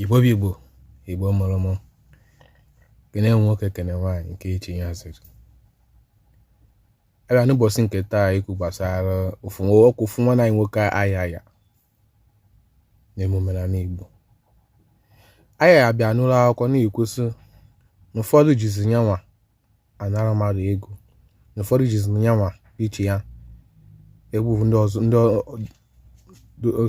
igbo bụ igbo igbo mụrụ mụ kene nwoke kene nwaanyị nke echi ya ziri abịa n'ụbọchị nke taa ikwu gbasara ofu ọkụ ofu nwanne anyị nwoke ayaya n'emume na igbo ayaya bịa n'ụlọ akwụkwọ na-ekwu sị na ụfọdụ jizi yanwa anara mmadụ ego na ụfọdụ jizi yanwa iche ya egwu ndị ọzọ ndị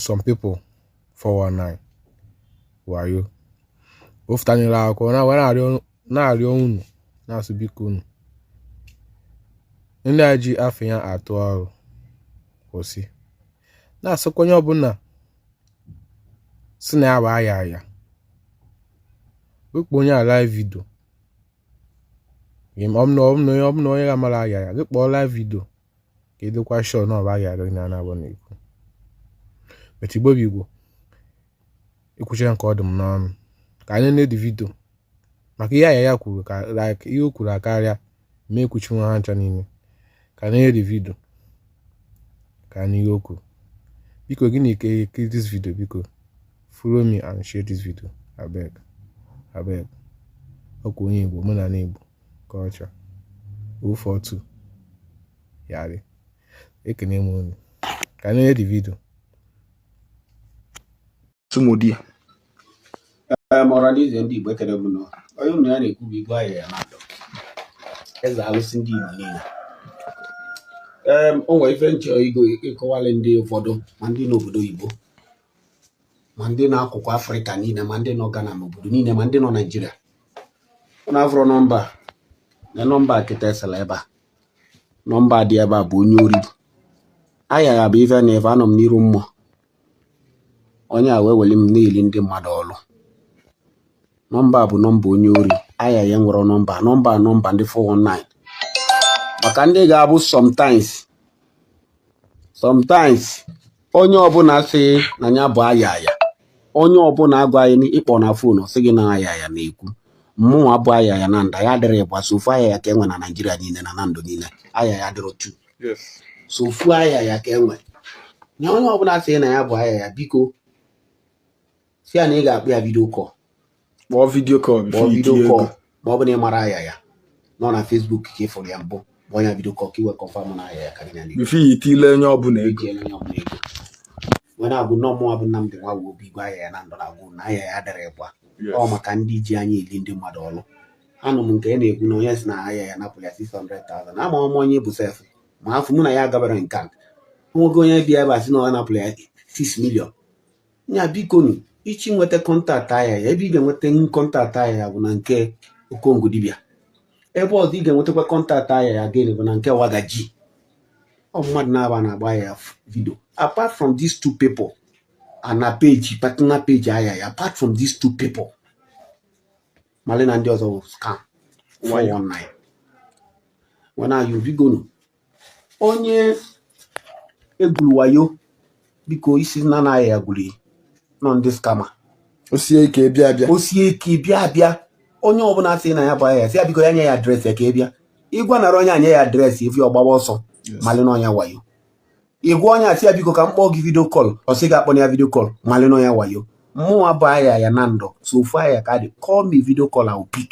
some people 419 wayo ofutanyere akụkọ na wee na-arịọ unu na-asị biko unu ndị a ji afa ya atụ ọrụ kwụsị na-asịkwa onye ọbụla si na ya bụ ayaya wee kpọọ onye a live vidio ọ bụ na onye ga-amara ayaya gị kpọọ live vidio ka ị dịkwa shọ na ọ bụ ayaya gị na ya nabọ na-ekwu but igbo bụ igbo ekwuchara nke ọ dị m n'ọnụ ka anyị nee di vidio maka ihe ayaya kwuru ka like ihe o kwuru akarịa ma ekwuchi nwa ha ncha niile ka anyị nee di vidio ka a nụ ihe o kwuru biko gị na-ekiri dis vidio biko follow me and share this video abeg abeg ọkwa onye igbo omenala igbo culture 042 yarị ekene m unu ka anyị nee di vidio tụmụdị ọra na eze ndị igbo ekene m unu onye unu ya na-ekwu bụ igwe ayaya nando eze alụsị ndị igbo niile o nwere ife m chọ ịkọwalị ndị ụfọdụ ma ndị nọ obodo oyibo ma ndị nọ akụkụ afrịka niile ma ndị nọ gana ma obodo niile ma ndị nọ naijiria unu afụrụ nọmba a nọmba kịta esela ebe a nọmba a dị ebe a bụ onye ori ayaya bụ ife na ife anọ m n'iru mmụọ onye a wee weli m na-eli ndị mmadụ ọlụ nọmba a bụ nọmba onye ori ayaya enwerọ nọmba nọmba nọmba ndị 419 maka ndị ga-abụ sometimes sometimes onye ọbụla sị na ya bụ ayaya onye ọbụla gwa gị na ị kpọọ na fon ọ sị gị na ayaya na-ekwu mmụnwa bụ ayaya nando adịrọ ịbụa sọ ofu ayaya ka e nwe na naijiria niile na nando niile ayaya adịrọ two sọ ofu ayaya ka e nwe na onye ọbụla sị na ya bụ ayaya biko sị ya na ị ga-akpọ ya vidio kọl kpọọ vidio kọl kpọọ vidio kọl ma ọ bụ na ị mara ayaya nọ na Facebook ka ị fụrụ ya mbụ kpọọ ya vidio kọl ka i wee kọnfam na ayaya ka gị na bifọ i tiele onye ọbụla ego i tiele onye ọbụla ego wee na-agwa unu mụnwa bụ Nnamdi nwa bụ obi igwe ayaya nando na-agwa unu na ayaya adịrọ ịbụa o maka ndị ji anyị eli ndị mmadụ ọlụ anụ m nke a na-ekwu na onye si na ayaya napụ ya 600,000 amarọ m onye ọ bụ sef ma afọ mụ na ya gabara nke a nwoke onye bịa ebe a sị na ọ napụrụ ya 6 million nya biko nu ị chọọ inweta kọntaktị ayaya ebe ị ga-enweta kọntaktị ayaya bụ na nke okongwu dibịa ebe ọzọ ị ga-enwetakwa kọntaktị ayaya again bụ na nke wagaji ọ mmadụ naabọ a na-agba ayaya vidio apart from these two people and na peji patna peji ayaya apart from these two people mali na ndị ọzọ bụ scam 419 warn you bikonu onye egwuru wayo biko ị sịna na ayaya gwuru ị n'ọ ndị skama o sie ike bịa abịa onye ọbụla sị na ya bụ ayaya sị ya biko ya nye ya adreesị ya ka ị bịa ị gwanara onye a nye ị adreesị if ọ gbawa ọsọ malị na ọ onye wayo ị gwa onye a sị ya biko ka m kpọọ gị vidio kọl ọ sị gị akpọna ya vidio kọl malị na ọ onye wayo mụnwa bụ ayaya nọ ndụ sọ ofu ayaya ka dị call me vidio kọl I pik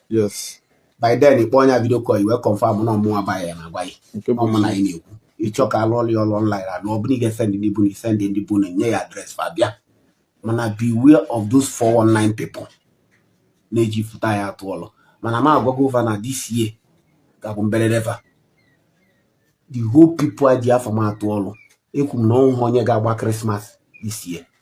yes by then ị kpọọ onye vidio kọl i wee kọnfam na ọ mụwa bụ ayaya na-agwa ya nke bụ ọ mụ na gị na-ekwu ị chọọ ka a lụọlụ ya ọlụ ọnlaịn na ọ bụrụ ị ga-esendị ndị be unu ị sendị ndị be unu nye ya adres fa bịa mana beware of those 419 people na-eji foto ayaya atụ ọlụ mana m agwago fa na this year ga-abụ mberede fa the whole people eji afa m atụ ọlụ ekwu m na o nwehọ onye ga-agba krismas this year